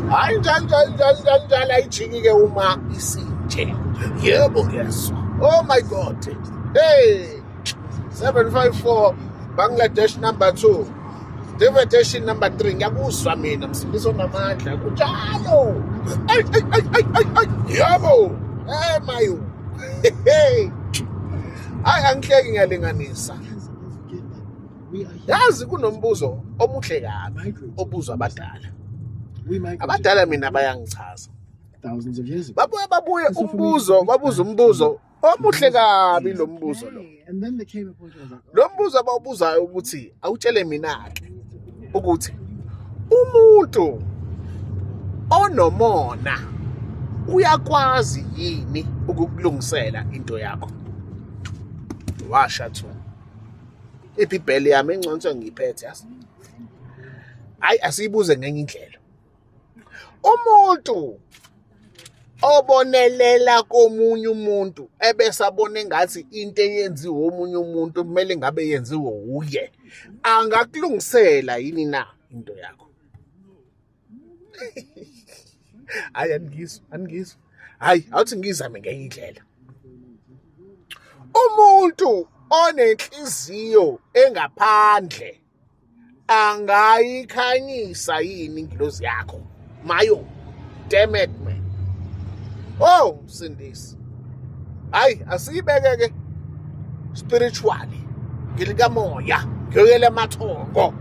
hayi njalo njalo njalo njalo njalo ayijiki-ke uma isinje yebo ngiyezwa oh my god hey 754 bangladesh number 2 devetation number 3 ngiyakuzwa mina msindisi onamandla kunjalo yebo hey mayo hey hayi angihleki ngiyalinganisa yazi kunombuzo omuhle kabi obuzwa abadala abadala mina bayangichaza babuye babuye umbuzo babuza umbuzo omuhle kabi lo mbuzo lo lo mbuzo abawubuzayo ukuthi awutshele mina-ke ukuthi umuntu onomona uyakwazi yini ukukulungisela into yakho washa thuna ibhibheli yami engconso ngiyiphethe yazi hayi asiyibuze ngenye indlela umuntu obonelela komunye umuntu ebesabona engathi into eyenziwe omunye umuntu kumele ngabe yenziwe wuye angakulungisela yini na into yakho hayi aningizwa aningizwa hayi awuthi ngizame ngenye indlela umuntu onenhliziyo engaphandle angayikhanyisa yini ingilozi yakho mayo damn it man oh usindisi hayi asiyibeke ke spiritually ngilikamoya ngiyoyela amathongo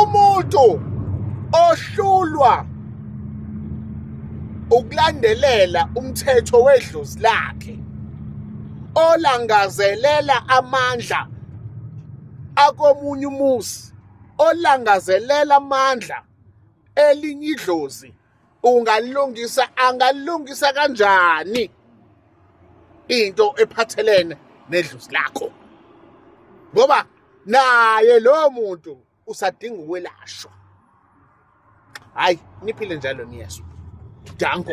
umuntu ohlulwa ukulandelela umthetho wedlozi lakhe olangazelela amandla akomunye umuzi olangazelela amandla elinye idlozi ungalungisa angalungisa kanjani into ephathelene nedlusi lakho ngoba naye lowo muntu usadinga ukwelashwa hayi niphile njalo niyezwa danko